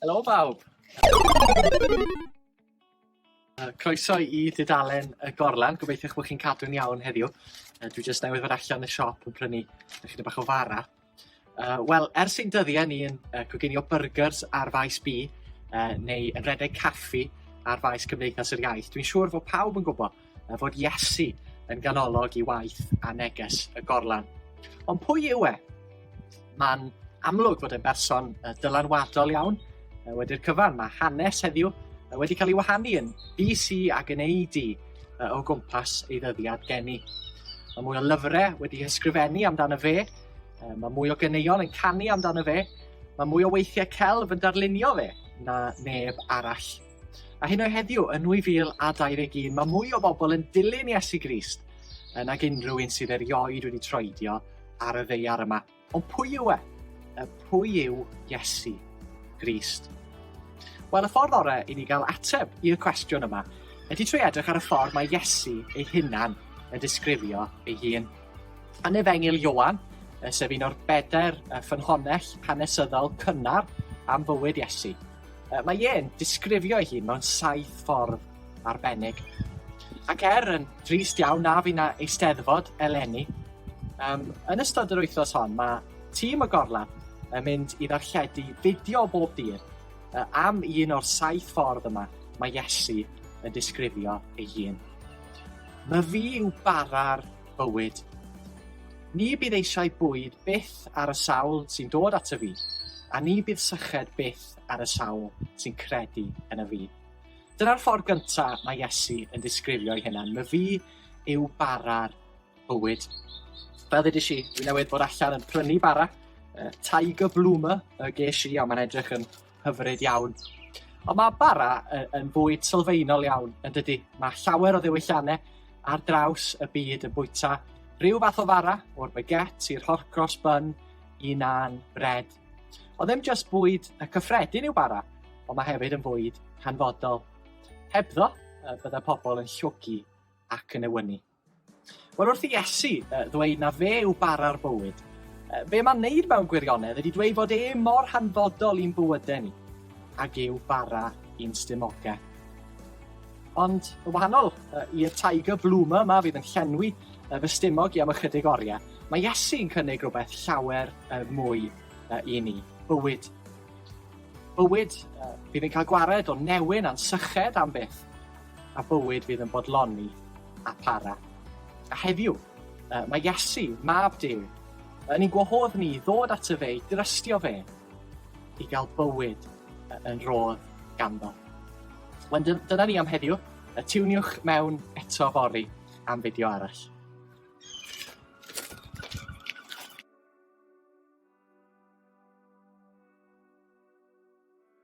Helo bawb! Croeso i dudalen y gorlan, gobeithio eich bod chi'n cadw'n iawn heddiw. Dwi jyst newydd fod allan y siop yn prynu chydig bach o fara. Uh, Wel, ers ein dyddiau ni yn uh, coginio burgers ar faes B, uh, neu yn redeg caffi ar faes Cymdeithas yr Iaith, dwi'n siŵr fod pawb yn gwybod uh, fod Iesu yn ganolog i waith a neges y gorlan. Ond pwy yw e? Mae'n amlwg fod e'n berson uh, dylanwadol iawn uh, wedi'r cyfan. Mae hanes heddiw uh, wedi cael ei wahanu yn BC ac yn AD uh, o gwmpas ei ddyddiad geni. Mae mwy o lyfrau wedi ysgrifennu amdano fe, Um, mae mwy o ganeuon yn canu amdano fe, mae mwy o weithiau celf yn darlunio fe na neb arall. A hyn o heddiw, yn 2021, mae mwy o bobl yn dilyn Iesu Grist yn ag unrhyw un sydd erioed wedi troedio ar y ddeiar yma. Ond pwy yw e? Y pwy yw Iesu Grist? Wel, y ffordd orau i ni gael ateb i'r cwestiwn yma ydy trwy edrych ar y ffordd mae Iesu ei hunan yn disgrifio ei hun. Yn Efengyl Ioan, sef un o'r bedair ffynhonnell hanesyddol cynnar am fywyd Iesu, mae Ie'n disgrifio ei hun mewn saith ffordd arbennig. Ac er yn drist iawn na fi na eisteddfod eleni, um, yn ystod yr wythnos hon mae tîm y gorlaf yn mynd i ddarlledu fideo bob dydd uh, am un o'r saith ffordd yma mae Iesu yn disgrifio ei hun. Mae fi yw bara'r bywyd. Ni bydd eisiau bwyd byth ar y sawl sy'n dod ato fi, a ni bydd syched byth ar y sawl sy'n credu yn y fi. Dyna'r ffordd gynta mae Iesu yn disgrifio'i hunan. Mae fi yw bara'r bywyd. Fel ddydys i, dwi newydd bod allan yn prynu bara, uh, Tiger Bloomer y ges i, a mae'n edrych yn Hyfryd iawn. Ond mae bara yn, yn bwyd sylfaenol iawn, yn dydy. Mae llawer o ddewyllannau ar draws y byd yn bwyta rhyw fath o fara, o'r baguette i'r horcross bun, i nan, bred. Ond ddim just bwyd y cyffredin yw bara, ond mae hefyd yn fwyd hanfodol. Hebddo, bydda pobl yn llwgu ac yn ewynu. Wel wrth i Iesu uh, ddweud na fe yw bara'r bywyd, uh, be mae'n neud mewn gwirionedd ydy dweud fod e mor hanfodol i'n bywydau ni, ag yw bara i'n stumogau. Ond y wahanol uh, i'r tiger bloomer yma fydd yn llenwi uh, fy stumog i am ychydig oriau, mae Iesu yn cynnig rhywbeth llawer uh, mwy uh, i ni, bywyd. Bywyd uh, fydd yn cael gwared o newyn a'n syched am byth, a bywyd fydd yn bodloni a para. A heddiw, uh, mae Iesu, mab Dyw, yn ein gwahodd ni i ddod at y fe, i drystio fe, i gael bywyd yn rodd ganddo. Wel, dyna ni am heddiw. Y tiwniwch mewn eto fori am fideo arall.